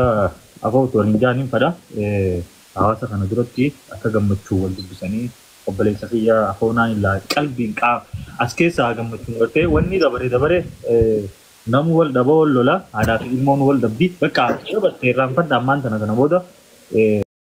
afo'otu waliin ja'aniin fadha. Hawaasa kana duratti akka gammachuun wal dubbisanii obboleessa kiyya afo'onaa hin laa qalbiin qaa as keessaa gammachuun gartee wannii dabare dabare Namu wal dhaba wal lola haadhaafi ilmoon wal dhabdi baqqaa dabarse irraanfadha ammaan tana kana booda.